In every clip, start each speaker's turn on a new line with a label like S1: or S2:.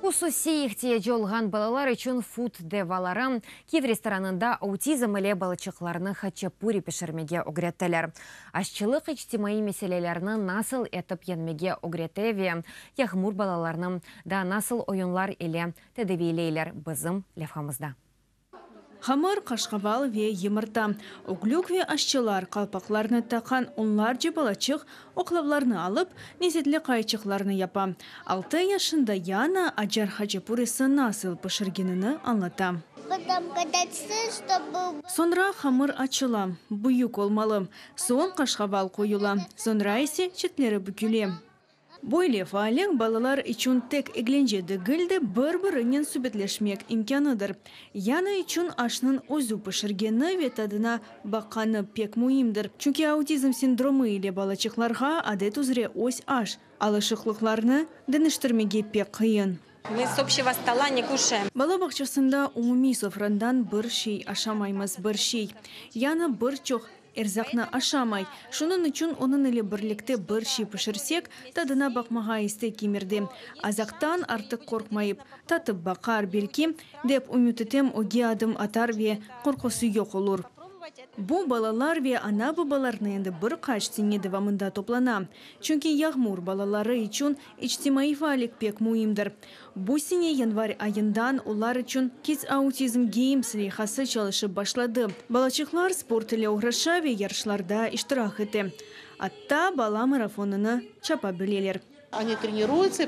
S1: Hususiy ihtiyacı olğan balalar içün food devaları, Kiyev restoranında autizm ile balaçıqlarnı haçapuri pişirmege ögrettiler. Aççılıq içtimaiy meselelerni nasıl etip yeñmege ögrete ve yağmur balalarnı da nasıl oyunlar ile tedaviyleyler, bizim levhamızda.
S2: Hamır, qaşqaval ve yımırta, ögülük ve aşçılar, qalpaqlarnı taqan onlarca balaçıq oqlavlarnı alıp, lezetli qayçıqlarnı yapa. Altı yaşında Yana acar haçapurisi nasıl pişirgenini añlata. Soñra hamır açıla, büyük olmalı, soñ qaşqaval qoyula, soñra ise çetleri büküle. Böyle faallik balalar içün tek eglence degil de, bir-birinen subetleşmek imkânıdır. Yanı içün aşnıñ özü pişirgeni ve tadına baqqanı pek müimdir. Çünki autizm sindromı ile balaçıqlarğa, adet üzre, öz aş alışıqlıqlarını deñiştirmege pek qıyın. Mı s obşego
S3: stola ne kuşaem. Bala bağçasında
S2: umumiy sofrandan bir şey aşamaymız, bir şey, yanı bir çoq Erzaqnı aşamay. Şunıñ içün onıñ ile birlikte bir şey pişirsek, tadına baqmağa istek kemirdi. Azaqtan artıq qorqmayıp, tatıp baqar, belki, dep ümüt etem, öge adım atar ve qorqusı yoq olur. Bu balalar ve ana-babalarnı endi bir qaç sene devamında toplana. Çünki Yağmur balaları içün içtimaiy faallik pek müimdir. Bu sene yanvar ayından olar içün Kids Autism Games leyhası çalışıp başladı. Balaçıqlar sport ile oğraşa ve yarışlarda iştirak ete. Atta bala marafonını çapa bileler.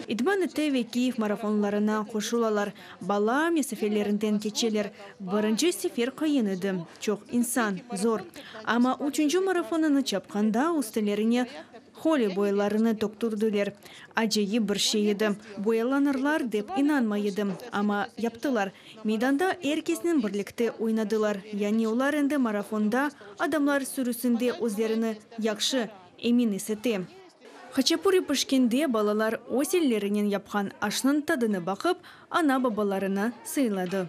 S4: İdman ete ve
S2: Kiyev marafonlarına qoşulalar. Bala mesafelerinden keçeler. Birinci sefer qıyın edi, çoq insan, zor. Amma üçünci marafonını çapqanda üstelerine Holi boyalarını töktürdiler. Acayip bir şey edi. Boyalanırlar dep inanmay edim, amma yaptılar. Meydanda er kesnen birlikte oynadılar, yani olar endi marafonda, adamlar sürüsinde özlerini yahşı, emin esete. Haçapuri pişkende balalar öz ellerinen yapqan aşnıñ tadını baqıp, ana-babalarını sıyladı.